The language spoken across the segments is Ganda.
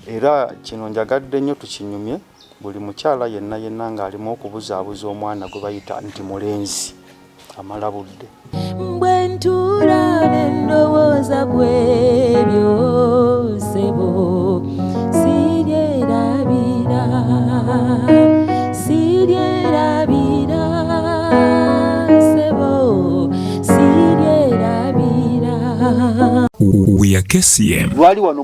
Era kino njagadde nnyo tukinyumye, buli mukyala yenna yenna ng'alimu okubuzaabuza omwana gwe bayita nti mulenzi, amala budde. Bwe ntuula ne ndowooza ku ebyo ssebo sibyerabira, sibyerabira ssebo sibyerabira. We are KCM.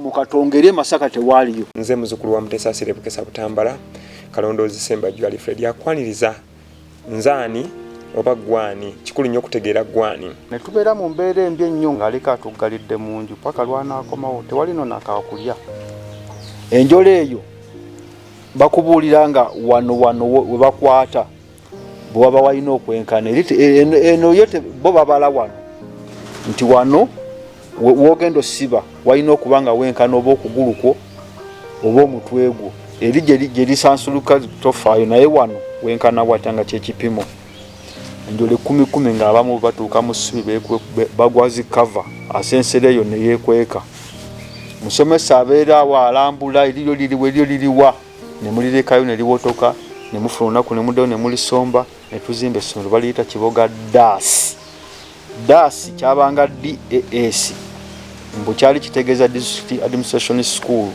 mukatongere masaka tewaliyo nze muzukulu wa mutesa asire bukesa butambala kalondoozi sembajju alifred akwaniriza nzaani oba gwani kikulu nnyo okutegeera gwani ne tubeera mu mbeera embi ennyo ng'aleka atuggalidde mu nju paka lwanaakomawo tewali no nakaakulya enjola eyo bakubuulira nga wano wano webakwata bwewaba walina okwenkana eno yo bo babala wano nti wano wogenda osiba walina okuba nga wenkana oba okugulukwo oba omutwe gwo eri gyerisansuluka tofaayo naye wano wenkana watya nga kyekipimo enjole kumi kumi ngaabamu batuuka mu ssubi bagwazi kava asensera eyo neyekweka musomesa abeera awo alambula eriryo liriwa eriryo liriwa ne mulirekayo ne liwotoka ne mufuna olunaku ne muddayo ne mulisomba ne tuzimba essomero baliyita kiboga daasi daasi kyabanga daasi mbu kyali kitegeeza district administration school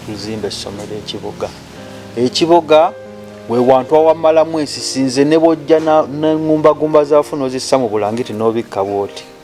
tuzimba essomero ekiboga ekiboga we wantu awamalamu ensisi nze ne bwojja neŋumbagumba zaafu n'ozissa mu bulangiti n'obikka bwoti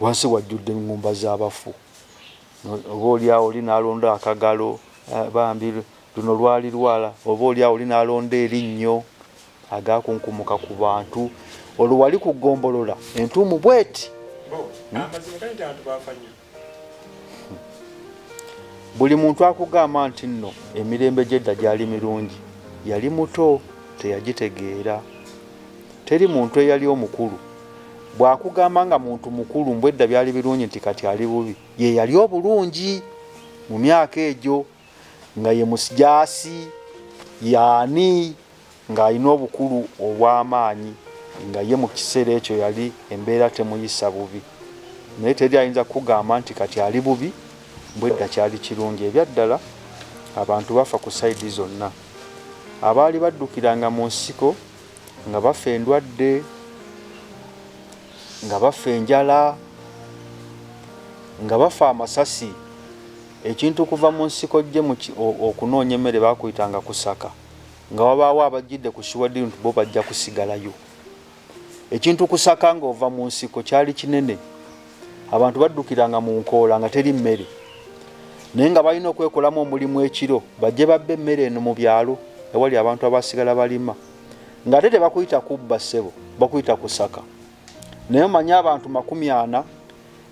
Wansi wajjudde eŋŋumba z'abafu. Oboolyawo oli n'alonda akagalo, bambi, luno lwali lwala. Oboolyawo oli n'alonda erinnyo, agaakunkumuka ku bantu. Olwo wali ku ggombolola entuumu bw'eti. Bo, amazima gali nti abantu baafa nnyo. buli muntu akugamba nti nno emirembe gy'edda gyali mirungi yali muto teyagitegeera teri muntu eyali omukulu bw'akugamba nga muntu mukulu mbu edda byali birungi nti kati ali bubi ye yali obulungi mu myaka egyo nga ye musijaasi yaani Nga alina obukulu obw'amaanyi, nga ye mu kiseera ekyo yali embeera temuyisa bubi. Naye teri ayinza kukugamba nti kati ali bubi, mbu edda kyali kirungi. Ebyaddala abantu bafa ku sayidi zonna. Abaali baddukiranga mu nsiko nga bafa endwadde, nga bafa enjala, nga bafa amasasi. Ekintu okuva mu nsiko ojje mu okunoonya emmere baakuyitanga kusaka. nga wabaawo abajjidde ku Suwedi nti bo bajja kusigalayo. Ekintu kusaka ng'ova mu nsiko kyali kinene. Abantu baddukiranga mu nkoola nga teri mmere. Naye nga balina okwekolamu omulimu ekiro bajje babbe emmere eno mu byalo ewali abantu abaasigala balima. Ng'ate tebakuyita kubba ssebo, bakuyita kusaka. Naye omanyi abantu makumi ana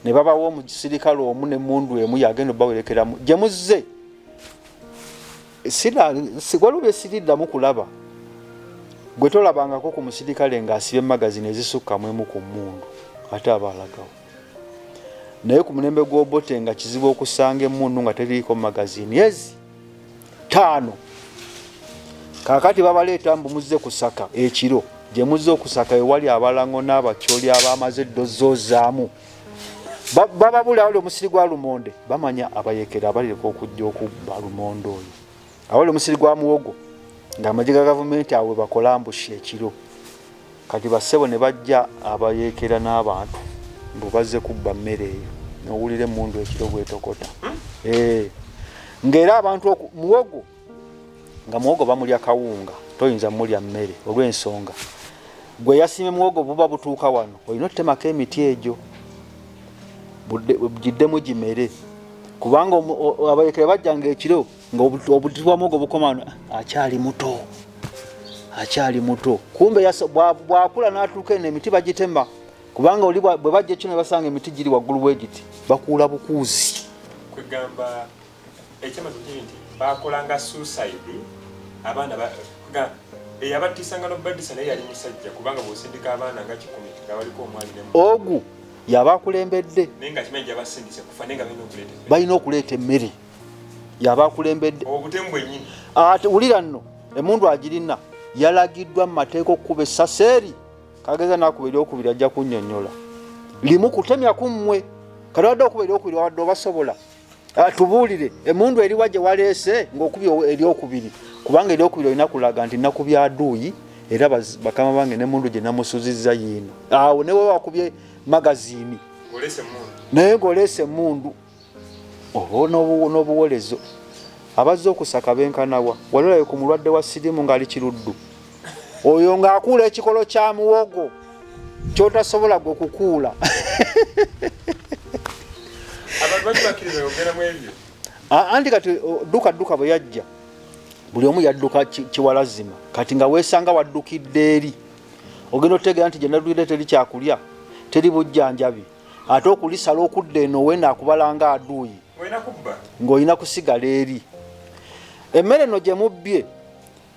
ne babawa omusirikale omu n'emmundu emu y'agenda obbawerekeramu gye muzze. waliwo bye siriddamu kulaba gwe tolabangako ku musirikale ng'asiba emagazini ezisukka mu emu ku mmundu ate aba alagawo naye ku mulembe gw'obote nga kizibu okusanga emmundu nga teriiko magazini ezi ttaano kaakati babaleeta mbu muzze kusaka ekiro gye muzze okusaka ewali abalango n'abatyoli abaamaze eddozi ozaamu bababula wali omusiri gwa lumonde bamanya abayekera abalireka okujja okubba lumonde oyo awali omusiri gwa muwogo ngaamagye ga gavumenti awe bakolambusha ekiro kati bassebo ne bajja abayekera n'abantu mbu bazze kubba mmere eyo nowulira emundu ekiro bwetokota hmm? eh. ngaera abantu muwogo nga muwogo bamulya kawunga toyinza mulya mmere olw'ensonga gwe yasiime muwogo buba butuuka wano olina otutemako emiti egyo giddemu gimere kubanga abalekera bajjanga ekiro nga obuti bwa muwogo bukoma wano akyali muto akyali muto kumbe bwakula n'atuuka eno emiti bagitema kubanga oli bwe bajja ekyo ne basanga emiti giri waggulu wegiti bakuula bukuuzi kwegamba ekyamazi kiri nti bakolanga suicide abaana eyabattisanga nobaddisa naye yali musajja kubanga bwosindika abaana nga kikumi nga waliko omwali ogu yaba akulembedde naye nga kimanyi gyabasindise kufa naye nga balina okuleeta balina okuleeta emmere yaba akulembedde obutemu bwenyini ate wulira nno emundu agirina yalagiddwa mu mateeka okukuba essasi eri kageza nakuba eryokubiri ajja kunyonyola limu kutemya ku mmwe kati wadde okuba eryokubiri wadde obasobola Ah, tubuulire emundu eriwa gye waleese ng'okubi eryokubiri kubanga eryokubiri olina kulaga nti nnaku bya duuyi era bakama bange nemundu gye namusuzizza yiino awo ah, newe wakubye magazini naye ng'oleese emundu oba n'obuwolezo abazze okusaka benkanawa walolayo ku mulwadde wa sirimu ng'ali kiruddu oyo ng'akuula ekikolo kya muwogo kyotasobola gwe kukuula anti kati dduka dduka bwe yajja buli omu yadduka kiwalazima kati nga weesanga waddukidde eri ogenda otegeera nti gyenadduire teri kyakulya teri bujjanjabi ate okulisala okudda eno wena akubalanga aduuyi ng'olina kusigala eri emmere no gye mubbye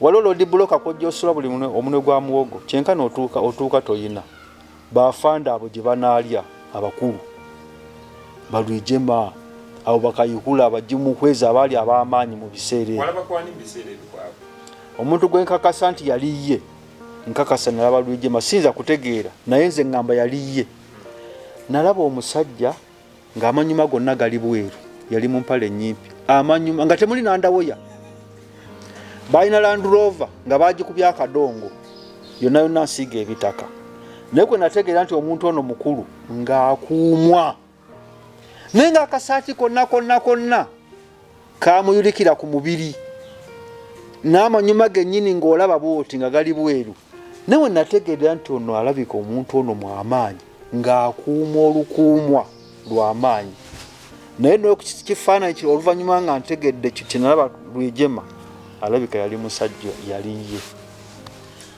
waliwo lodi buloka kwojja osula buli omunwe gwa muwogo kyenkana otuuka otuuka toyina bafanda abo gye banaalya abakulu balwijema abo bakayihula abagimuhweza abaali ab'amaanyi mu biseera omuntu gwe nkakasa nti yali ye nkakasa nalaba lwijema siyinza kutegeera naye nze ŋŋamba yali ye nalaba omusajja ng'amanyuma gonna gali bweru yali mu mpale ennyimpi amanyuma nga temuli nandawoya balina landurova nga bagikubya akadongo yonna yonna nsiiga ebitaka naye kwe nategeera nti omuntu ono mukulu ng'akuumwa naye ng'akasaati konna konna konna kaamuyulikira ku mubiri n'amanyuma gennyini ng'olaba bwoti nga gali bweru nawe nategeera nti ono alabika omuntu ono mwamaanyi ng'akuuma olukuumwa lwamaanyi naye nokifaananyi kiri oluvannyuma nga ntegedde kiti nalaba lwejema alabika yali musajja yali ye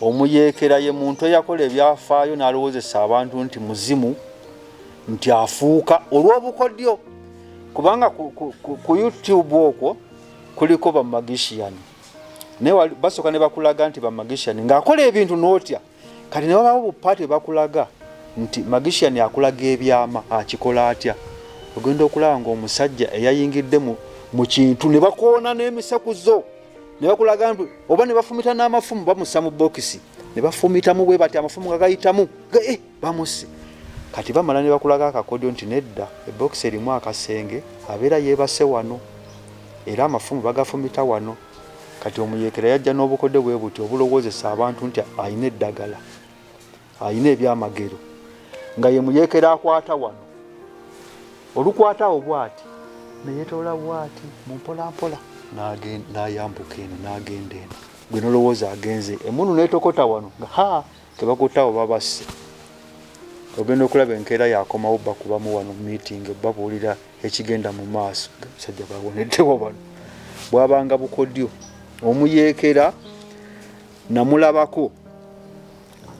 Omuyeekera ye muntu eyakola ebyafaayo n'alowoozesa abantu nti muzimu nti afuuka olw'obukodyo kubanga ku, ku, ku, ku youtube okwo kuliko bamagishiyani naye basooka ne bakulaga nti bamagishiyani ng'akola ebintu n'otya kati ne babawo bupaati ebakulaga nti magishiyani akulaga ebyama akikola atya ogenda okulaba ng'omusajja eyayingidde mu kintu ne bakoona n'emisekuzo ne bakulaga nti oba ne bafumita n'amafumu bamussa mu bokisi ne bafumitamu bwe bati amafumu nga gayitamu eh, bamusse kati bamala ne bakulaga akakodyo nti nedda ebokisi erimu akasenge abeera yeebase wano era amafumu bagafumita wano kati omuyekera yajja n'obukodyo bwe buti obulowoozesa abantu nti alina eddagala alina ebyamagero nga ye muyekera akwata wano olukwata awo bwati neyetoola bwati mumpolampola nayambuka eno nagenda eno gwe nolowooza agenze emunu netokota wano nga ha tebakutawo babasse ogenda okulaba enkeera yakomawo bakubamu wano meeting babuulira ekigenda mu maaso musajja bawoneddewo bano bwabanga bukodyo omuyeekera namulabako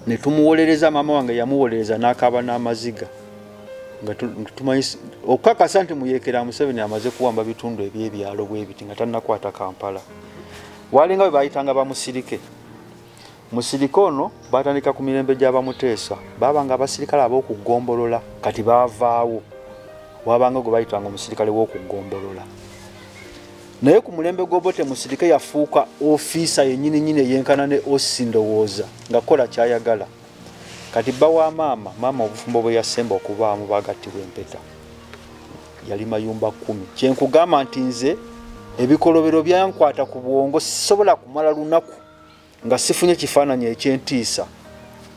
ne tumuwolereza maama wange yamuwolereza n'akaaba n'amaziga nga tumanyi okukakasa nti muyeekera museveni amaze kuwamba bitundu ebyebyalo bwebiti nga tanakwata kampala walinga bwe bayitanga bamusirike musirike ono batandika ku mirembe gyabamuteesa baba nga abasirikale ab'okugombolola kati bavaawo wabanga gwe bayitanga omusirikale w'okugombolola naye ku mulembe gw'obote musirike yafuuka ofiisa yennyini nyini eyenkana ne osi ndowooza nga kola kyayagala kati bba wa maama maama obufumbo bwe yasemba okubaamu bagattibwa empeta yali mayumba kkumi kyenkugamba nti nze ebikolobero byankwata ku bwongo sisobola kumala lunaku Nga sifunye kifaananyi eky'entiisa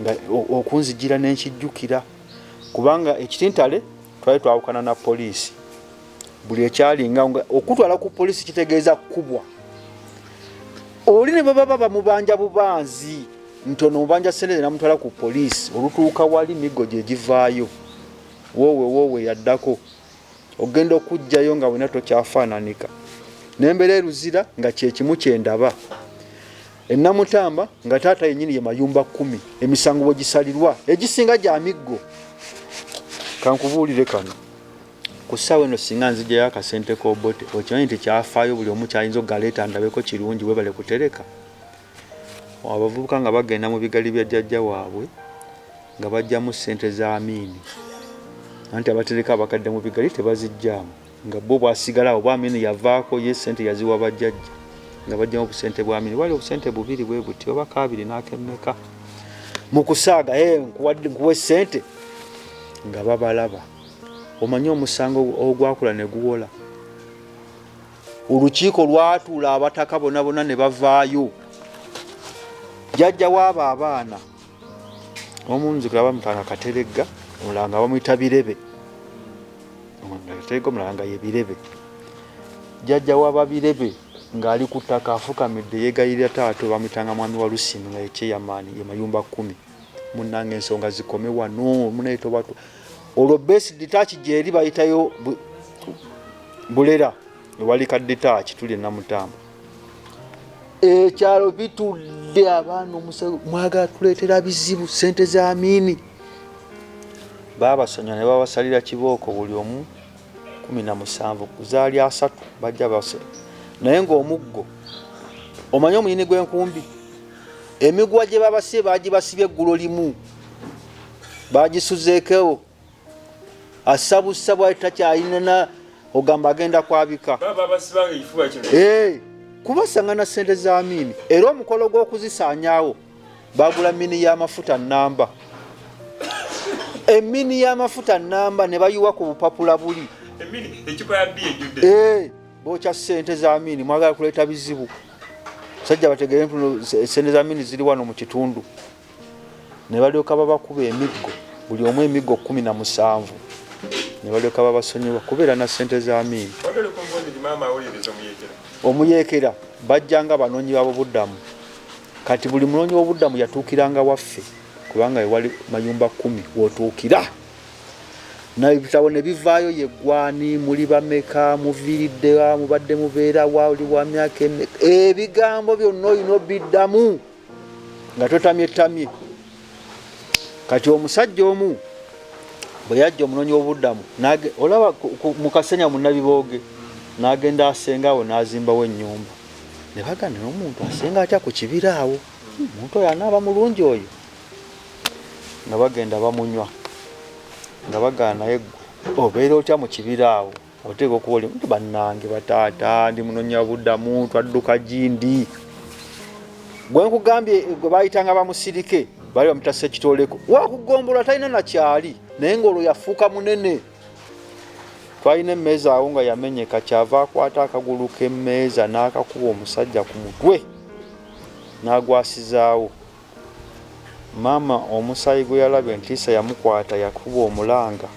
nga okunzijira ne nkijjukira kubanga ekitintale twali twawukana na poliisi buli ekyalinga okutwala ku poliisi kitegeeza kukubwa oli ne bwebaba bamubanja bubanzi nti ono mubanja sente namutwala ku poliisi olutuuka wali miggo gye givaayo woowe woowe yaddako ogenda okujjayo nga wena tokyafaananika nembeera eruzira nga kyekimu kyendaba enamutamba nga taata yenyini ye mayumba kumi emisango bwegisalirwa egisinga gya miggo kankubuulire kano ku ssaawa eno singa nzijayo akasente kobote okimanyi nti kyafaayo buli omu kyayinza okugaleeta ndabeko kirungi webale kutereka Abavubuka nga bagenda mu bigali bya jjajja waabwe nga baggyamu ssente za Amin anti abatereka abakadde mu bigali tebaziggyamu nga bo bwasigala oba Amin yavaako ye ssente yaziwa bajjajja nga baggyamu obusente bwa Amin bali obusente bubiri bwe buti oba kaabiri n'akemmeka mu kusaaga e nkuwa essente nga babalaba omanyi omusango ogwakula ne guwola olukiiko lwatuula abataka bona bona ne bavaayo jajja waabo abaana omunzikula bamutanga kateregga omulanga bamuyita birebe kateregga omulanga ye birebe jajja wababirebe ng'ali ku ttaka afukamidde yeegayirira taata bamuyitanga mwami wa lusini nga yekyeyamaani ye mayumba kkumi munnanga ensonga zikome wano munaye tobatwa olwo base ditaaki gyeri bayitayo bulera ewali ka ditaaki tuli namutamba ekyalo bitudde abaana omusawo mwagala tuleetera bizibu sente za miini babasanya ne babasalira kibooko buli omu kumi na musanvu zaali asatu bajja base naye ngaomuggo omanyi omuyini gw'enkumbi emiguwa gye babasibye bagibasibye eggulo limu bagisuzeekewo assa bussa bwali takyayinana ogamba agenda kwabika eh, kubasanga na sente za miini era omukolo gw'okuzisaanyawo bagula mini y'amafuta namba emini y'amafuta namba ne bayiwa ku bupapula buli eh, bokya sente za miini mwagala kuleeta bizibu sajja bategere ntuno sente za miini ziri wano mu kitundu ne balyoka babakuba emiggo buli omu emiggo kkumi na musanvu ne balyoka babasonyiwa kubeera na ssente za Amin. Omuyeekera bajjanga banoonyi babobuddamu kati buli munoonyi wobuddamu yatuukiranga waffe kubanga wewali mayumba kkumi wotuukira naebitabo ne bivaayo yeggwani muli bameka muviiriddewa mubadde mubeera wa oli wa myaka ebigambo byonna olina obiddamu nga totamye tamye kati omusajja omu bwe yajja omunoonyi w'obuddamu olaba mu kasenya munnabibooge n'agenda asenga awo n'azimbawo ennyumba ne bagana n'omuntu asenga atya ku kibira awo omuntu oyo anaaba mulungi oyo nga bagenda bamunywa nga bagaanaye ggwe obeera otya mu kibira awo oteeka okuba oli nti bannange bataata ndi munonya budamu twadduka gindi gwe nkugambye eh, gwe bayitanga bamusirike bali bamutasa ekitoleko wakugombolola talina nakyali naye ngaolwo yafuuka munene twalina emmeeza awo nga yamenyeka kyava akwata akagulu k'emmeeza n'akakuba omusajja ku mutwe n'agwasizaawo Maama omusaayi gwe yalabye ntiisa yamukwata yakuba omulanga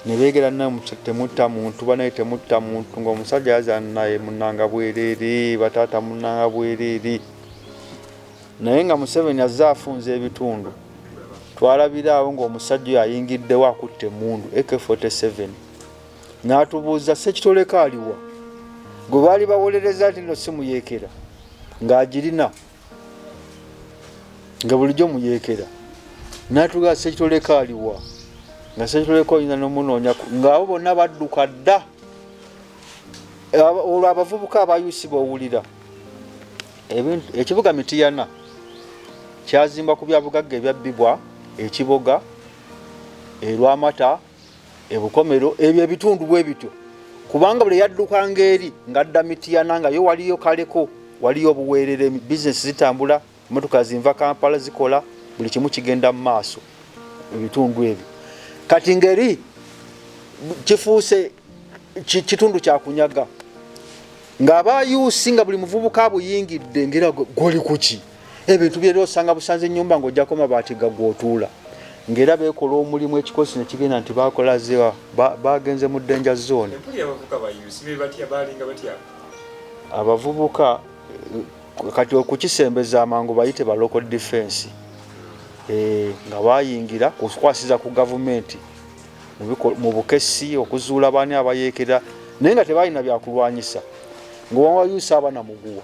ne beegera nti temutta muntu banaye temutta muntu ng'omusajja yazaana naye munnanga bwereere bataata munnanga bwereere naye nga Museveni azze afunza ebitundu twalabiraawo ng'omusajja oyo ayingiddewo akutte emmundu AK47 n'atubuuza ssekitoleko aliwa gwe baali bawolereza nti no simuyeekera ng'agirina nga bulijjo muyeekera natuga sekitoleko aliwa nga sekitoleko oyinza nomunoonya ngaabo bonna badduka dda olwo abavubuka abayusi bowulira ekibuga mitiyana kyazimba ku byabugagga ebyabbibwa ekiboga erwamata ebukomero ebyo ebitundu bwe bityo kubanga buli yaddukanga eri ng'adda mitiyana nga yo waliyo kaleko waliyo obuweerere bizinesi zitambula emotoka zinva kampala zikola buli kimu kigenda mu maaso ebitundu ebyo kati ngeri kifuuse kitundu kyakunyaga ng'abayuusi nga buli muvubuka buyingidde ngera goli kuki ebintu byera osanga busanze enyumba ngaojako mabaati gagwotuula ngaera bekola omulimu ekikosi nekigenda nti bakola ziwa bagenze mu danger zone abavubuka eh, kati okukisembeza amangu bayite ba local defense eh, nga bayingira kukwasiza ku gavumenti mu bukesi okuzuula baani abayekera naye nga tebalina byakulwanyisa ngaowa yusa abana muguwa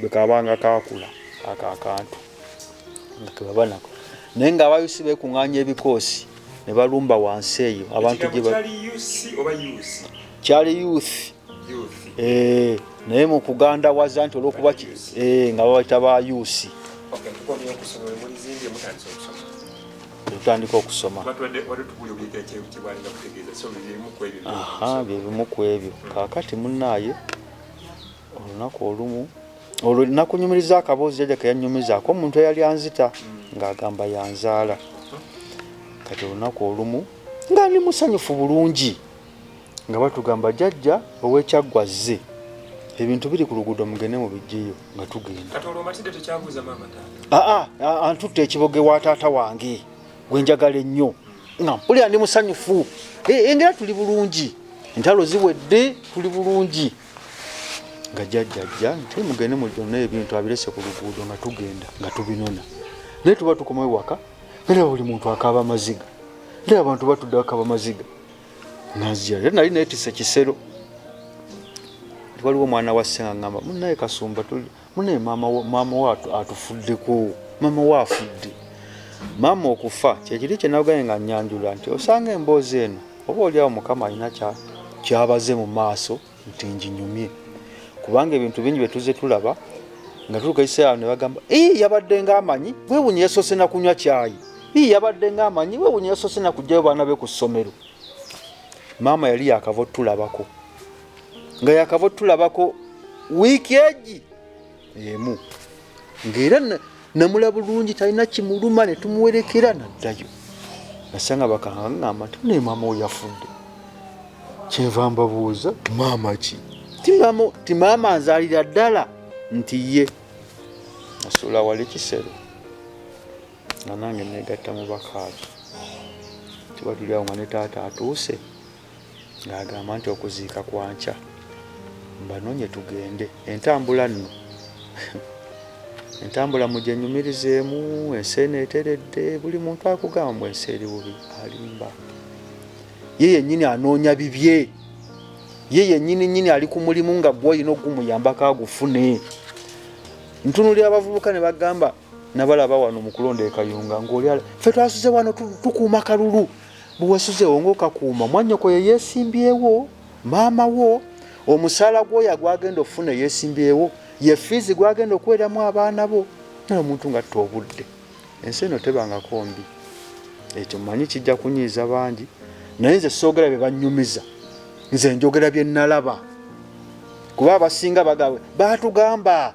bwe kabanga kaakula ako akantu nga kebaba nako naye nga abayusi beekung'anya ebikoosi ne balumba wansi eyo abantu kyali youth eh, naye mu kuganda waza nti olwokuba eh, nga babaita ba yusi tutandika okusoma byebimu ku ebyo kakati munaaye olunaku olumu olwo nakunyumiriza akaboozi jajja keyanyumizaako omuntu eyali anzita ng'agamba yanzaala kati olunaku olumu nga ndi musanyufu bulungi nga batugamba jajja owekyaggwa zze ebintu biri ku luguudo mugende mu bijjeyo nga tugenda aa antutta ekiboge wa taata wange gwe njagala ennyo nga mpulira ndi musanyufu engera tuli bulungi entalo ziwedde tuli bulungi nga jajjajja nti mugende mujone ebintu abirese ku luguudo nga tugenda nga tubinona naye tuba tukoma ewaka era buli muntu akaaba amaziga era abantu batudde akaba amaziga nazira era nali netise kisero waliwo omwana wa senga ngamba munaye kasumba Munaye maama wo maama wo atufuddeko maama wo afudde maama okufa kyekiri kyenawgaye nga nyanjula nti osanga emboozi eno oba oliawo mukama alina kyabaze mu maaso nti njinyumye kubanga ebintu bingi byetuze tulaba nga tulukaisa awo nebagamba ii yabadde nga amanyi wewunye yasoose nakunywa kyayi ii yabadde nga amanyi wewunye yasoose nakugjayo baana be ku ssomero maama yali yakava otulabako nga yakava otulabako wiiki egi emu ngaera namula bulungi talina kimuluma netumuwerekera naddayo nasanga bakaŋaŋama nti naye maama oyo yafudde kyenva mbabuuza maama ki ti maama nzalira ddala nti ye nasuula wali kisero nga nange negatta mu bakaaki tibatulyawo nga ne taata atuuse ng'agamba nti okuziika kwa nkya mbanonye tugende entambula nno entambula mugyenyumirizeemu ensi eno eteredde buli muntu akugamba mu ensi eri bubi alimba ye yennyini anoonya bibye ye yennyini nyini ali ku mulimu nga gwolina ogumuyambako agufune ntunulira abavubuka ne bagamba nabalaba wano mu kulonda ekayunga ngaoli fe twasuze wano tukuuma kalulu Bwe weesuzeewo ng'okakuuma, mwannyoko ye yeesimbyewo, maama wo, omusaala gw'oya gw'agenda okufuna eyeesimbyewo, ye ffiizi gw'agenda okuweeramu abaana bo, naye omuntu ng'atta obudde. Ensi eno tebangako mbi. Ekyo mmanyi kijja kunyiiza bangi, naye nze soogera bye bannyumiza, nze njogera bye nnalaba. Kuba abasinga baatugamba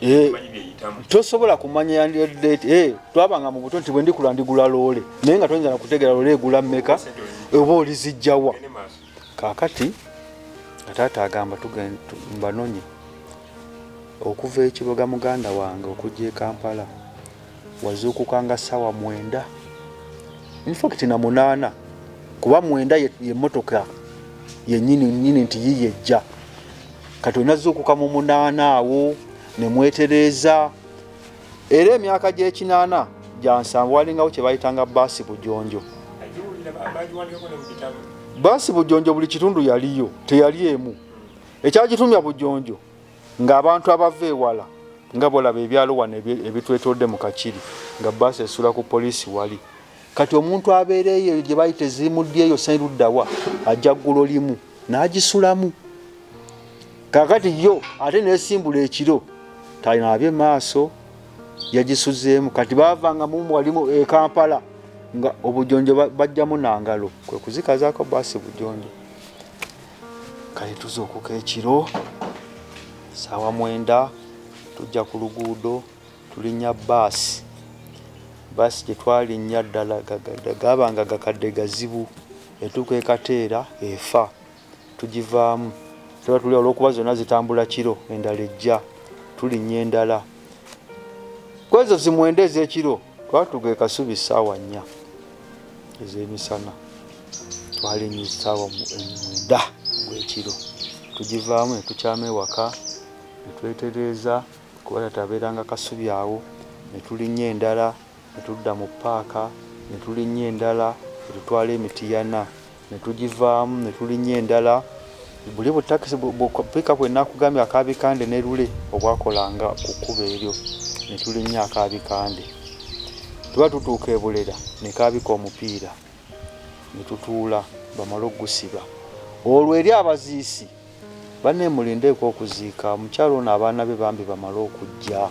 Eh, tosobola kumanya yandiodate eh, twabanga mu buto nti bwendikula ndigula loole naye nga toyinza nakutegera loole egula mmeka oba olizijjawa kakati nga taata agamba mbanonye okuva ekiboga muganda wange okujja ekampala wazuukuka nga ssaawa mwenda infact na munaana kuba mwenda yemotoka yenyini nyini nti yiye ejja kati onazuukuka mu munaana awo nemwetereeza era emyaka gyekinaana gyansanvu walingawo kyebayitanga baasi bujonjo baasi bujonjo buli kitundu yaliyo teyali emu ekyagitumya bujonjo ng'abantu abava ewala nga bolaba ebyalo wano ebitwetoodde mu kakiri nga bbaasi esula ku poliisi wali kati omuntu abeera eyo eyo gye bayita eziimuddi eyo sairuddawa ajja ggulo limu n'agisulamu kakati yo ate nesimbula ekiro talinaabye maaso yagisuzeemu kati baavanga mumu walimu e kampala nga obujonjo bajjamu nangalo kwe kuzikazaako baasi bujonjo kale tuzuukuka ekiro saawa mwenda tujja ku luguudo tulinnya baasi baasi gye twalinnya ddala gaba nga gakadde gazibu etuuka ekateera efa tugivaamu tuba tuli olwokuba zonna zitambula kiro endala ejja tulinnya endala kwezo zimwenda ez'ekiro twatuga ekasubi ssaawa nnya ez'emisana twalinnya essaawa mwenda gw'ekiro tugivaamu ne tukyama ewaka ne twetereeza kuba taata abeeranga Kasubi awo ne tulinnya endala ne tudda mu ppaaka ne tulinnya endala ne tutwala e Mityana. ne tugivaamu ne tulinnya endala, buli bu takisi bu pick-up bwe nakugambye aka Bikande ne Lule obwakolanga ku kkubo eryo ne tulinnya aka Bikande, tuba tutuuka e Bulera ne kaabika omupiira ne tutuula bamale okugusiba olwo eri abaziisi banne mulindeeko okuziika omukyala ono abaana be bambi bamale okujja,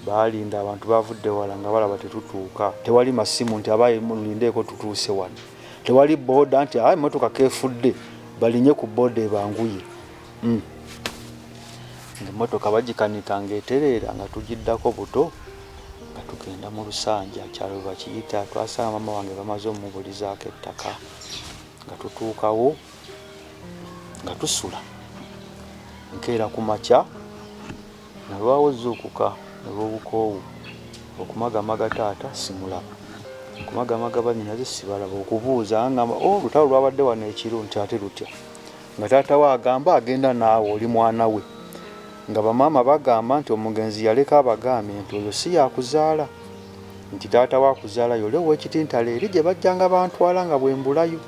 baalinda abantu baavudde wala nga balaba tetutuuka, tewali masimu nti abaye mulindeeko tutuuse wano. Tewali boda nti ah, emotoka kefudde balinye ku boda ebanguye mm. emotoka bagikanika ngaetereera nga tugiddako buto nga tugenda mu lusanja kyalo bakiyita twasanga mama wange bamaze omubulizaako ettaka nga tutuukawo nga tusula nkeera ku makya Nalwawo zuukuka olw'obukoowu okumagamaga taata simulaba, okumagamaga bannyinaze sibalaba, okubuuza angamba oh lutalo lwabadde wano ekiro nti ate lutya nga taata we agamba agenda naawe oli mwana we nga bamaama bagamba nti omugenzi yaleka abagambye nti oyo si yakuzaala nti taata we akuzaala yole ow'ekitintalo eri gye bajjanga bantwala nga bwe mbulayo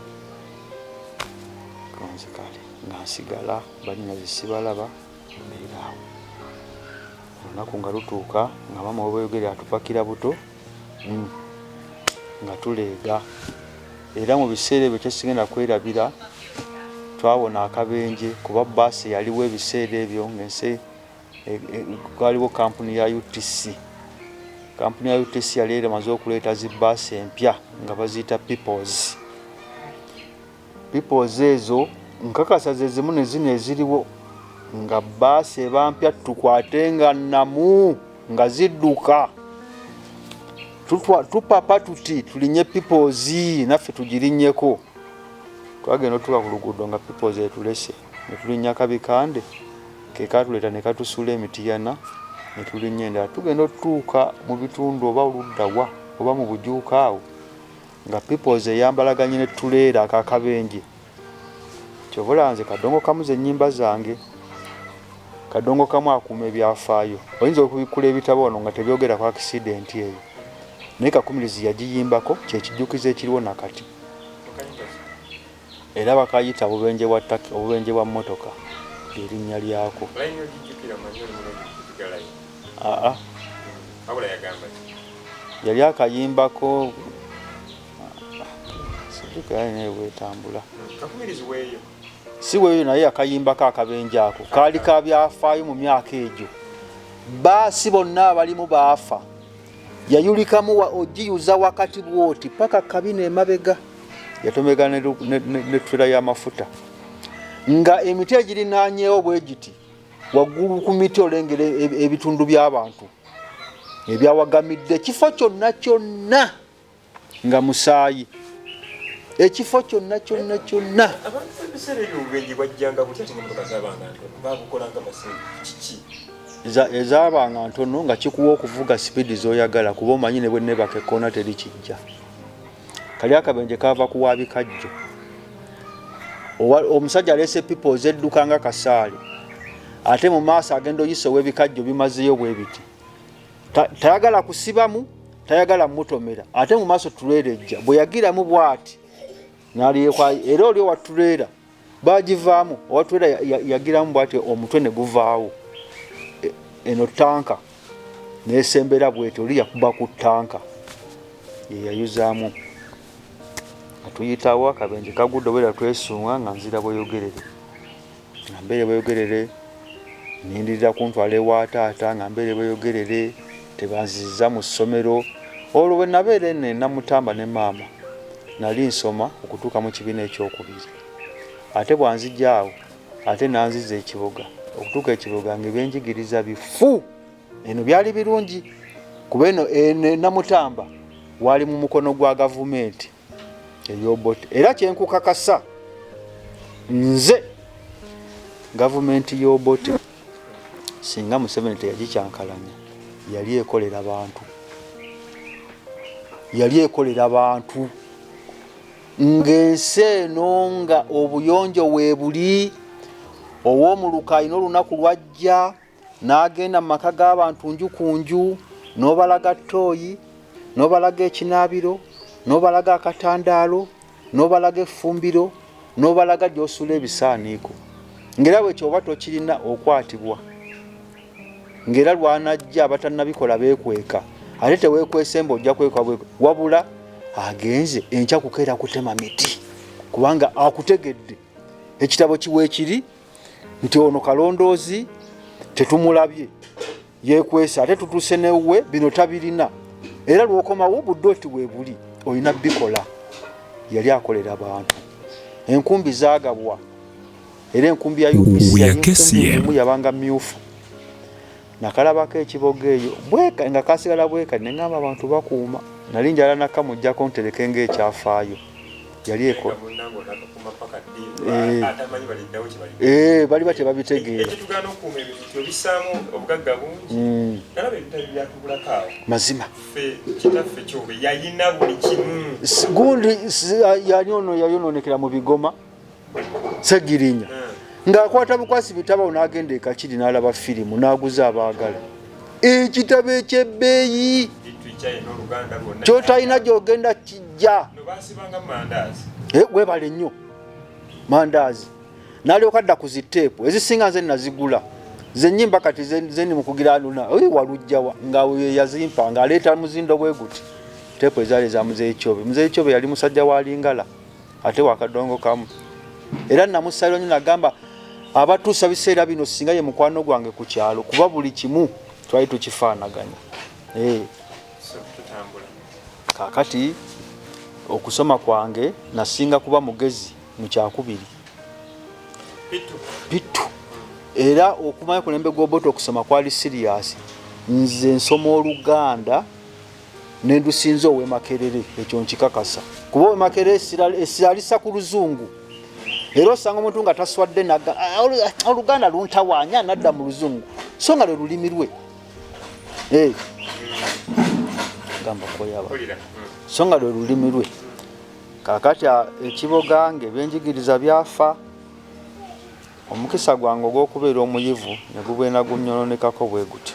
kanzikale nga nsigala bannyinaze sibalaba olunaku nga lutuuka nga maama webweyogere atupakira buto hmm. nga tuleega era mu biseera ebyo kyesigenda kwerabira twawona akabenje kuba baasi yaliwo ebiseera ebyo ngensi e, e, kwaliwo kampuni ya utc kampuni ya utc yali eramaze okuleeta zi baasi empya nga baziyita peoples Peoples ezo nkakasa ze zimu ne zino eziriwo nga bbaasi eba mpya ttuku ate nga nnamu nga zidduka tupapa tuti tulinye peoples naffe tugirinyeko twagenda otuka ku luguudo nga peoples etulese ne tulinnya kabikande ke katuleeta ne katusuula emitiyana ne tulinnya endala tugenda otutuuka mu bitundu oba oluddawa oba mu bujuuka awo nga peoples eyambalaganye ne tuleera akakabenje kyovula nze kadongo kamu zenyimba zange kadongo kamu akuuma ebyafaayo oyinza okubikkula ebitabo wano nga tebyogera ku akisidenti eyo naye kakumirizi yagiyimbako kyekijukizo ekiriwo nakati Era bakayita obubenje bwa Turkey, obubenje bwa mmotoka lye linnya lyako. Aa. Yali akayimbako sijjukira yali naye bwetambula. Si weeyo naye akayimbako akabenje ako kaali ka byafaayo mu myaka egyo. Baasi bonna abalimu baafa. yayulikamu wa ogiyuza wakati bwoti paka kabina emabega yatomega ne trela y'amafuta nga emiti egirinanyewo bwe giti waggulu ku miti olengera e, e, ebitundu by'abantu ebyawagamidde ekifo kyonna kyonna nga musaayi ekifo kyonna kyonna kyonna abantu ebiseera ebyo obubenje bwajjanga butya ate nemotoka zabanga ntono babukolanga basente kiki ezabanga ntono nga kikuwa okuvuga sipiidi zoyagala kuba omanyi ne bwenebaka ekkoona teri kijja kali akabenje kava ku wabikajjo omusajja aleese pipo zedduka nga kasaale ate mu maaso agenda oyisa ow'ebikajjo bimazeyo bwe biti tayagala kusibamu tayagala mutomera ate mu maaso tuleera ejja bwe yagiramu bwati naliyekwayo era oli owa tuleera bagivaamu owa tuleera yagiramu bwati omutwe ne guvaawo e, eno tanka nesembera bweti oli yakuba ku tanka yeyayuzaamu atuyitawo akabenje kagudde obera twesunga nga nzira bweyogerere nga mbeere bweyogerere nindirira kuntwala ewa taata nga mbeere bweyogerere tebanziziza mu ssomero olwo bwe nabeera eno enamutamba ne maama nali nsoma okutuuka mu kibiina ekyokubiri ate bwanzija awo ate nanziza ekiboga okutuuka ekiboga nga ebyenjigiriza bifu eno byali birungi kuba eno enamutamba wali mu mukono gwa gavumenti eyobot era kyenkukakasa nze gavumenti yobote singa museveni teyagikyankalanya yali ekolera bantu yali ekolera bantu ng'ensi eno nga obuyonjo weebuli ow'omuluka alina olunaku lwajja n'agenda mu maka g'abantu nju ku nju n'obalaga ttooyi n'obalaga ekinaabiro n'obalaga akatandaalo n'obalaga effumbiro n'obalaga gy'osuula ebisaaniiko ng'era bwe kyoba tokirina okwatibwa ng'era lwanajja abatannabikola beekweka ate teweekwesemba ojja kwekwa wabula agenze enkya kukeera kutema miti kubanga akutegedde ekitabo kiweekiri nti ono kalondoozi tetumulabye yekwesa ate tutuuse newuwe bino tabirina era lwokomawo budde oti webuli olina bikola yali akolera bantu enkumbi zagabwa era enkumbi ya upc yabanga myufu nakalabako ekiboga eyo bweka nga kasigala bweka nengamba abantu bakuuma nali njala nakamujjako ntereke nga ekyafaayo yali eko eh. eh, bali batya babitegeeramazima gundi yali ono yayononekera mu bigoma segirinya ng'akwata bukwasi bitabo n'agenda ekakiri n'alaba firimu n'aguza abaagala ekitabo ekyebbeeyi kyotalina gyogenda kijja eh, webale nnyo mandaazi nalyoka dda ku ziteepu ezisinga nze nazigula zenyimba kati zeni mukugira luna walujjawa nga yazimpa ng'aleeta muzindo bwe guti teepu ezaali eza muzeeyi kyobe muzeeyi kyobe yali musajja wa lingala ate wakadongo kamu era namusalira nyo nagamba abatuusa biseera bino singa ye mukwano gwange ku kyalo kuba buli kimu twali tukifaanaganya eh. kakati okusoma kwange nasinga kuba mugezi mu kyakubiri bitu era okumanya kulembe gwobota okusoma kwali siriyasi nze nsoma oluganda nendusinza owe makerere ekyo nkikakasa kuba owe makerere esiralisa ku luzungu era osanga omuntu nga taswadde naga ah, ah, oluganda luntawanya nadda mu luzungu so nga lwe lulimi lwe eh. gamba koyaba so nga lwe lulimi lwe kakati ah, ekiboga nga ebyenjigiriza byafa omukisa gwange ogw'okubeera omuyivu ne gubwena gunnyononekako bwe gutyo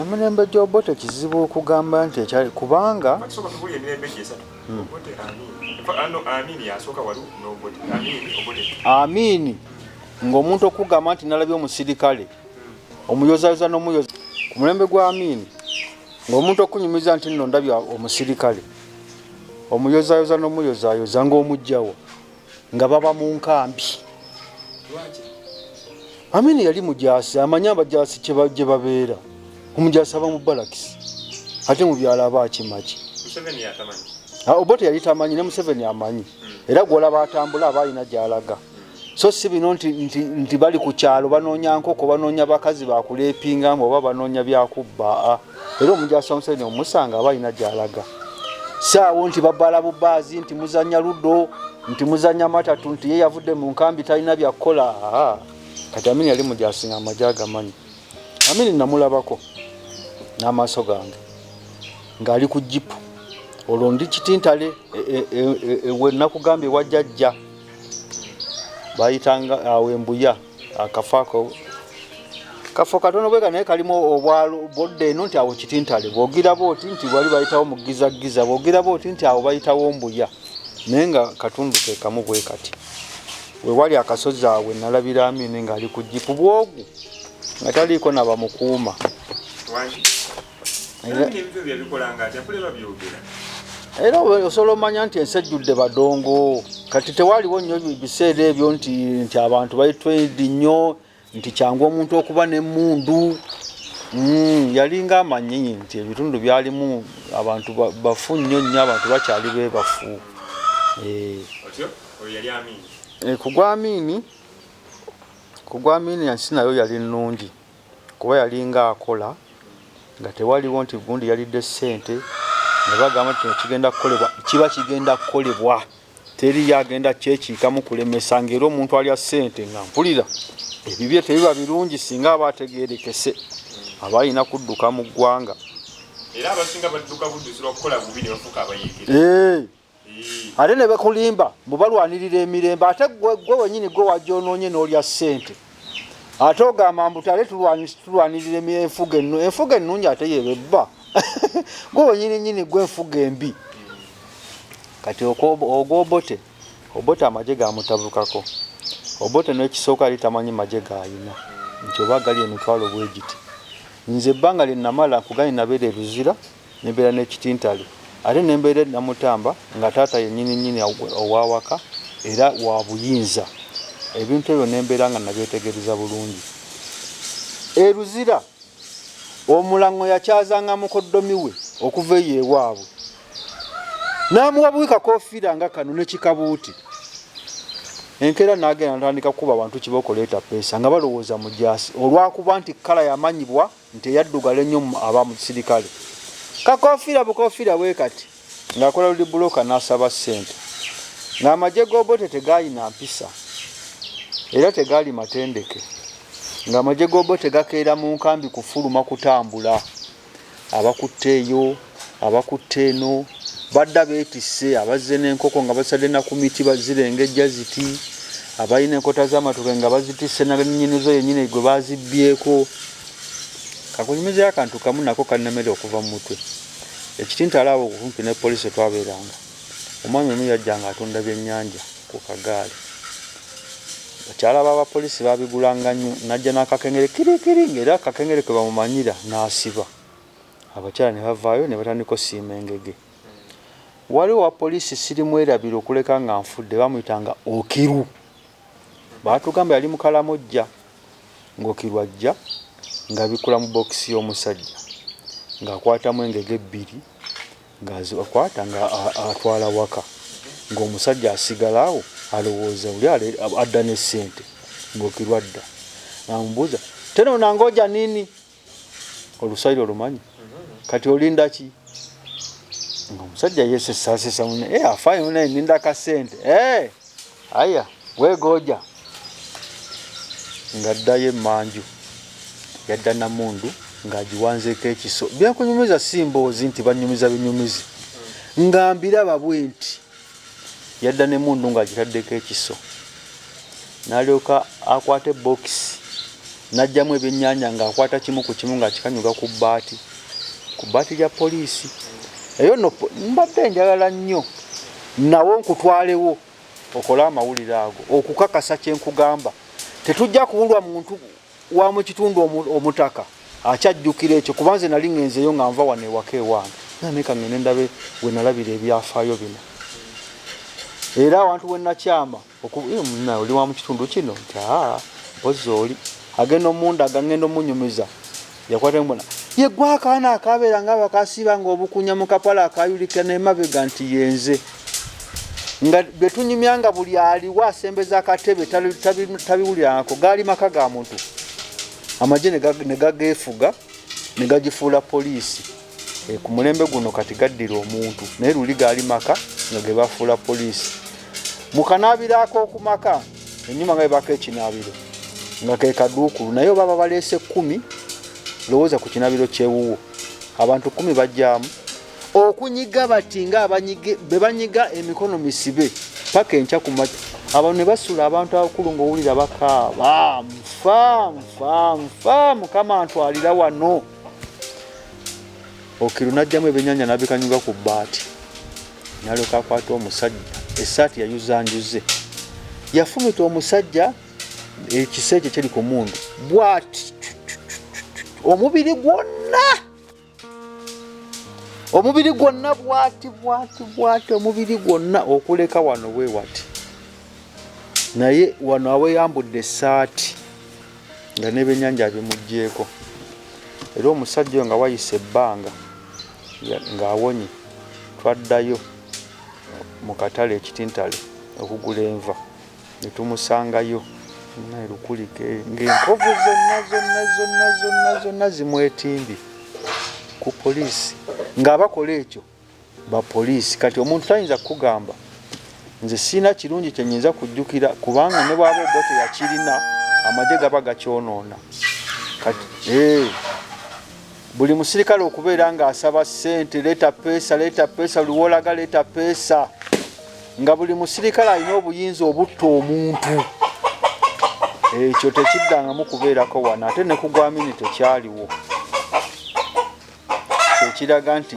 emirembe gy'obote kizibu okugamba nti ekyali kubanga amiini ng'omuntu okugamba nti nalabye omusirikale omuyozayoza n'omuyoza ku mulembe gwa amiini ng'omuntu okunyumiza nti nno ndabye omusirikale omuyozayoza n'omuyozayoza ng'omugjawo nga baba mu nkambi amini yali mujaasi amanyi abajaasi gye babeera omujaasi aba mu balakisi ate mu byalo aba akimaki ah, obote yali tamanyi ne museveni amanyi hmm. era gwolaba atambula aba alina gyalaga so si bino nti bali ku kyalo banoonya nkoko banoonya bakazi bakuleepingamu oba banoonya byakubba ah. era omujaasi omusajja omusanga aba alina gyalaga saawo nti babala bubaazi nti muzanya ludo nti muzanya matatu nti ye yavudde mu nkambi talina byakukola kati amini yali mujaasi nga amaje agamanyi amini namulabako n'amaaso gange ng'ali ku jipu olwo ndi kitintale e, e, e, wenakugambye wajajja bayitanga awo embuya akafo ako kafo katono bweka naye kalimu obwalo bodda eno nti awo kitintale bwogiraba oti nti wali bayitawo mugizaggiza bwogiraba oti nti awo bayitawo mbuya naye nga katundu kekamu bwe kati wewali akasozi awe nalabira amini ngaali ku jipu bwogu nga taliiko nabamukuuma era osobola omanya nti ensi ejjudde badongo kati tewaliwo nnyo biseera ebyo nti nti abantu baitwedi nnyo nti kyangu omuntu okuba nemundu hmm, yalinga amanyi nti ebitundu byalimu abantu bafu nnyo nnyo abantu bakyali bebafu eh. eh, kugwamiini kugwamiini ensi nayo yali nnungi kuba yalinga akola nga tewaliwo nti gundi yalidde ssente ne bagamba nti kino kigenda kukolebwa kiba kigenda kukolebwa teriyo agenda kyekiikamu kulemesa ng'era omuntu alya ssente nga mpulira ebibye tebiba birungi singa aba ategeerekese aba alina kudduka mu ggwanga era abasinga badduka budduzi lwakukola bubi ne bafuuka abayeekera ate ne bekulimba mbu balwanirira emirembe ate gwe wenyini gwe wagyonoonye n'olya ssente ate ogamba mbu tale tulwanirira enfuga ennu enfuga ennungi ate yebebba gwe wenyini nyini gwe enfuga embi kati ogwobote obote amagye gamutabukako obote nekisooka yali tamanyi magye gayina nti oba gali emitwalo bwegiti nze ebbanga lyenamala kugani nabeera eruzira ne mbeera ne Kitintale ate ne mbeera e Namutamba nga taata ye nnyini nnyini ow'awaka era wa buyinza. Ebintu ebyo ne mbeera nga nabyetegereza bulungi. E Luzira, Omulang'o yakyazanga mukoddomi we okuva eyo ewaabwe n'amuwa buwi kakoofiira nga kano ne kikabuuti. Enkeera nagenda natandika kukuba bantu kibooko leeta ppeesa nga balowooza mujaasi olwakuba nti kkala yamanyibwa. nti eyaddugala ennyo aba musirikale kakofiira bukofiira bwe kati ng'akola luli bulooka n'asaba ssente ng'amagye g'obote tegaalina mpisa era tegaali matendeke ng'amagye g'obote gakeera mu nkambi kufuluma kutambula abakutteeyo Abakutte eno badda beetisse, abazze n'enkoko nga bazisadde na ku miti bazirengejja ziti, abalina enkota z'amatooke nga bazitisse na nnyini zo yennyini gwe baazibbyeko. Kakunyumizeeyo akantu kamu nako kannemera okuva mu mutwe. Ekitintala awo okumpi ne poliisi we twabeeranga, omwami omu yajjanga atunda byennyanja ku kagaali. Bakyala b'abapoliisi baabigulanga nnyo, n'ajja n'akakengere kirikiri ng'era akakengere kwe bamumanyira n'asiba. abakyala ne bavaayo ne batandika osiima engege. Waliwo owa poliisi sirimwerabira okuleka nga nfudde baamuyitanga Okiru. Baatugamba yali mu Kalamojja ng'Okiru ajja ng'abikkula mu bookisi y'omusajja ng'akwatamu engege ebbiri ng'azikwata ng'atwala waka ng'omusajja asigala awo alowooza oli adda ne ssente ng'Okiru adda. Namubuuza tena unaangoja nini? olusayiri olumanyi kati olindaki nga omusajja yesesasesa mune eh, afayo mune ninda kasente eh, aya wegoja nga ddayo emanju yadda namundu ng'agiwanzeeko ekiso byakunyumiza si mboozi nti banyumiza binyumizi nga mbiraba bwe nti yadda n'emmundu ng'agitaddeko ekiso n'alyoka akwata ebbookisi n'aggyamu ebyennyanja ng'akwata kimu ku kimu ng'akikanyuga ku bbaati ku bbaati lya poliisi eyo no mbadde njagala nnyo nawo nkutwalewo okole amawulire ago okukakasa kye nkugamba tetujja kuwulwa muntu wa mu kitundu omutaka akyajjukira ekyo kuba nze nali ŋenzeyo nga nva wano ewaka ewange naneka ŋene ndabe we nalabira ebyafaayo bino era awantu wenakyama eh, oli wa mu kitundu kino nti aa mpozi oli agenda omundaga ŋenda omunyumiza Yakwata mbona ye gwa akaana akabeera nga bakasiiba nga obukunya mu kapala akayulika nemabega nti yenze nga betunyumya nga buli aliwo asembeza akatebe tabiwulirangako gaali maka ga muntu amagye negageefuga negagifuula poliisi. E, ku mulembe guno kati gaddira omuntu naye luli gaali maka nga ge bafuula poliisi mu kanaabiro ak'oku maka ennyuma nga bebaka ekinaabiro nga ke kaduukulu naye oba babaleese kkumi lowooza ku kinaabiro kyewuwo abantu kkumi bajjamu okunyiga bati nga be banyiga emikono misibe paka enkya ku maki abantu ne basula abantu abakulu ng'owulira bakaaba nfa nfa nfa mukama ntwalira wano okiru najjamu ebyenyanja nabikanyuga ku bbaati nalyoka akwata omusajja esaati yayuzanjuze yafumita omusajja ekisa ekyo kyeri ku mundu bwati omubiri gwonna omubiri gwonna bwati bwati bwati omubiri gwonna okuleka wano wewati naye wano aweyambudde esaati nga n'ebyennyanja abimuggyeeko era omusajja oyo nga wayise ebbanga ng'awonye twaddayo mu katale e Kitintale okugula enva ne tumusangayo naye lukulike ng'enkovu zonna zonna zonna zonna zonna zimwetimbye ku poliisi ng'abakola ekyo ba poliisi kati omuntu tayinza kukugamba nze sirina kirungi kyenyinza kujjukira kubanga ne bwaba obo teyakirina amagye gaba gakyonoona kati eh, buli musirikale okubeera ng'asaba ssente leeta peesa leeta peesa luwolaga leeta peesa nga buli musirikale alina obuyinza obutta omuntu ekyo tekiddangamu kubeerako wano ate ne kugwamini tekyaliwo kyekiraga nti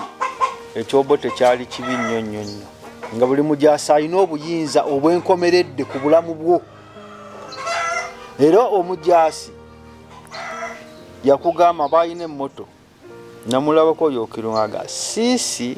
ekyobo tekyali kibi nnyo nnyo nnyo nga buli mujaasi alina obuyinza obwenkomeredde ku bulamu bwo era omujaasi yakugamba balina emmoto namulabako oyo okirungaga siisi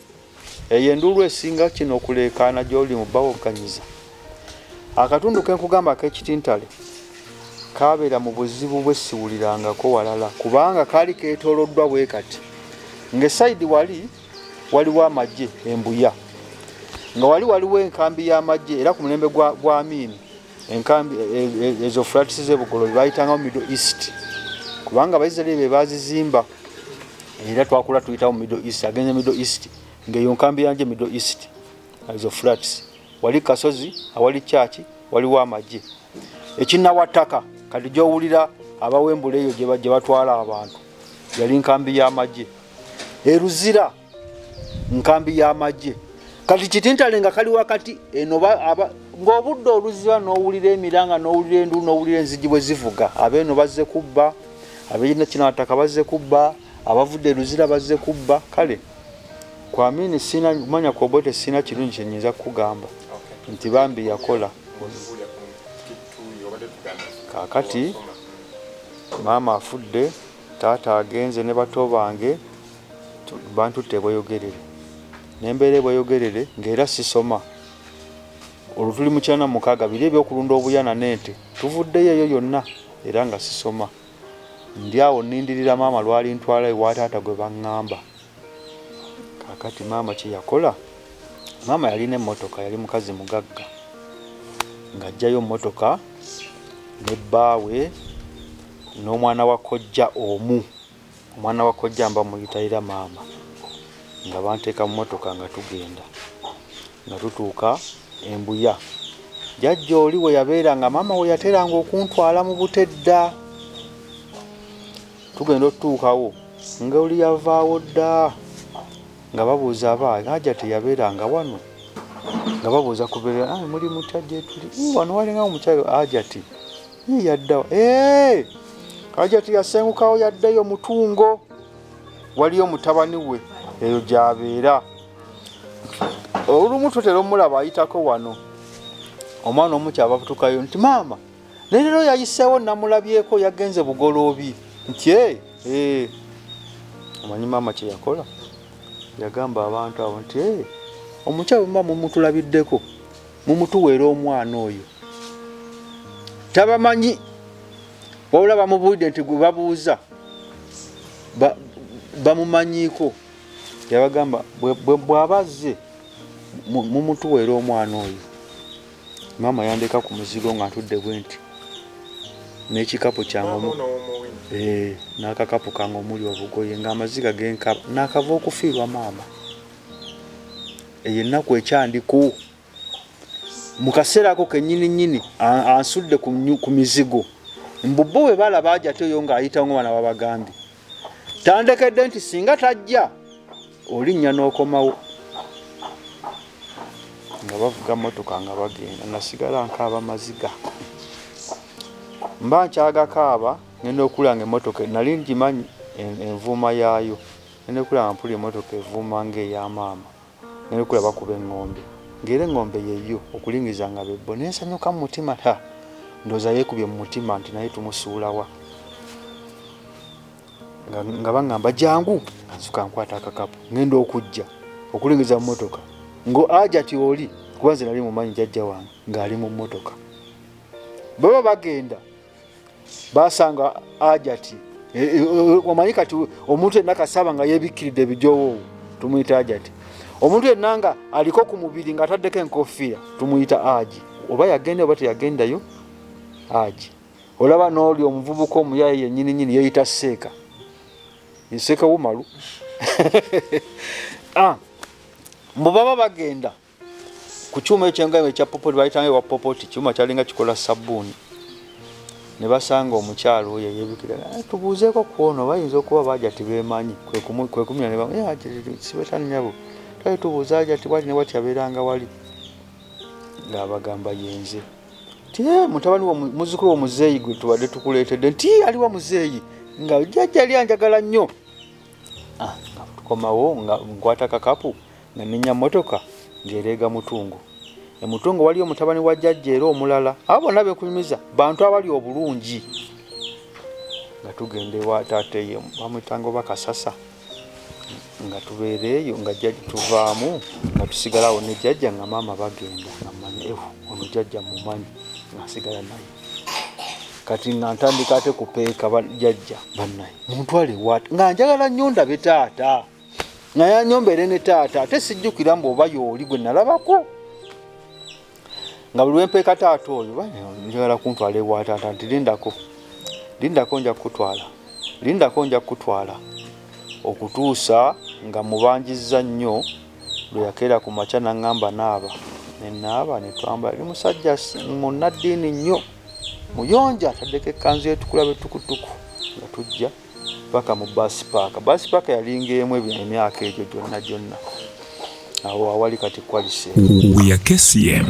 Eyo enduulu esinga kino okuleekaana gy'oli mu bawogganyiza. Akatundu ke nkugamba ak'ekitintale kaabeera mu buzibu bwe siwulirangako walala kubanga kaali keetooloddwa bwe kati. Ng'esayidi wali waliwo amagye e Mbuya, nga wali waliwo enkambi y'amagye era ku mulembe gwa Amin Enkambi ezo flats ze Bugolobi bayitangawo Middle East kubanga Abaisiraeri be baazizimba era twakula tuyitawo Middle East agenze Middle East ng'eyo nkambi yanje Middle East ezo flats wali kasozi awali kyaki waliwo amagye ekinawa ttaka kati gy'owulira abawembula eyo gye batwala abantu yali nkambi y'amagye eruzira nkambi y'amagye kati kitintale nga kali wakati eno ng'obudde oluziba n'owulira emiranga n'owulira endu n'owulira enzigi bwe zivuga abeeno bazze kubba abeina kinaataka bazze kubba abavudde eluzira bazze kubba kale kwamini sina kumanya kwobote sina kirungi kyenyinza kukugamba nti bambi yakola kakati maama afudde taata agenze ne bato bange Bantutte e Bweyogerere ne mbeera e Bweyogerere ng'era sisoma. Olwo tuli mu kyana mukaaga biri eby'okulunda obuyana n'ente. Tuvuddeyo eyo yonna era nga sisoma. Ndi awo nnindirira maama lw'alintwala ewa taata gwe bang'amba. Kaakati maama kye yakola, maama yalina emmotoka, yali mukazi mugagga ng'aggyayo mmotoka ne bbaawe n'omwana wa kojja omu. Omwana wa kojja mba muyita era maama nga banteeka mu motoka nga tugenda nga tutuuka e Mbuya jajja oli we yabeera nga maama we yateranga okuntwala mu bute dda tugenda otutuukawo nga oli yavaawo dda nga babuuza aba haja teyabeera nga wano nga babuuza kubeera muli mutya gyetuli wano walinga omukyalo hajati Yii yaddawa. Eeeeh! Hajati yasengukawo yaddeyo mutungo. Waliyo mutabani we eyo gyabeera. Olumu tutera omulaba ayitako wano. Omwana omu kyava kutukayo nti maama ne leero yayiseewo namulabyeko yagenze bugoloobi nti ee ee omanyi maama kye yakola yagamba abantu abo nti ee omukyala omuba mumutulabiddeko Mumutuweere omwana oyo tabamanyi wabula bamubuulidde nti gwe babuuza bamumanyiiko yabagamba bw'aba azze mumutuweera omwana oyo maama yandeka ku muzigo nga ntudde bwe nti n'ekikapu kyange eh, n'akakapu kange omuli obugoye ng'amaziga genkaba naakava okufiirwa maama eyo ennaku ekyandiko mu kaseera ako kennyini nnyini ansudde ku mizigo mbubbo bwe balaba aja ate oyo ng'ayitawo nga bana babagambye tandekedde nti singa tajja olinnya n'okomawo nga bavuga motoka nga bagenda nasigala nkaaba maziga mba nkyagakaaba ngenda okulanga emotoka nali ngimanyi envuuma yaayo Ngenda kulaba mpulira emmotoka evuuma nga eya maama ngenda okulaba kuba engombe nga era engombe ye yo okulingiza nga bebbo nensanyuka mu mutima ha ndoza yekubye mu mutima nti naye tumusuulawa nga bangamba jangu nzuka nkwata akakapu ngenda okujja okulingiza mu motoka ngo aja ti oli kuba nze nali mumanyi jajja wange ng'ali mu motoka baba bagenda basanga ajati e, e, e, omanyi kati omuntu yenna kasaba nga yebikkiridde ebijowo tumuyita ajati omuntu yenna nga aliko ku mubiri nga ataddeko enkofiira tumuyita aji oba yagenda oba teyagendayo aji olaba nooli omuvubuka omuyaye yenyini nyini yeyita seeka seeka wumalu ah, mbu baba bagenda ku kyuma ekyo nga ekya popoti bayitanga ewa popoti kyuma kyalinga kikola sabbuuni ne basanga omukyalo oyo eyebikira eh, tubuuzeeko ku ono bayinza okuba baja tibemanyi kwekumira nebasibetani nyabo twali tubuuza aja ti wati ne wati abeeranga wali ng'abagamba yenze ti eh, mutabani muzukulu womuzeeyi gwe tubadde tukuleetedde nti eh, aliwo muzeeyi nga jajja li anjagala nnyo ah, tukomawo nga nkwata kakapu Nanenya mmotoka ng'ereega Mutungo. E Mutungo waliyo mutabani wa Jajja era omulala. Abo bonna be nkunyumiza bantu abali obulungi. Nga tugenda ewa taata eyo bamuyitanga oba Kasasa nga tubeera eyo nga jjajja tuvaamu nga tusigala awo ne jjajja nga maama bagenda nga mmanyi ehu ono jjajja mumanyi nga nsigala naye kati nga ntandika ate kupeeka jjajja bannaye muntwale wat nga njagala nnyo ndabe taata naye anyombere ne taata ate sijjukira mbu oba yooli gwe nalabako nga buli wempeeka taata oyo njagala kuntwala ewa taata nti lindako lindako nja kukutwala lindako nja kukutwala okutuusa nga mubanjizza nnyo lwe yakeera ku makya naŋŋamba naaba nenaaba netwambala li musajja munnaddiini nnyo muyonja ataddeko ekkanzu etukula betukutuku nga tujja paka mu bus park bus park yalinga emu ebyo emyaka egyo gyonna gyonna awo awali kati kwalise we are kcm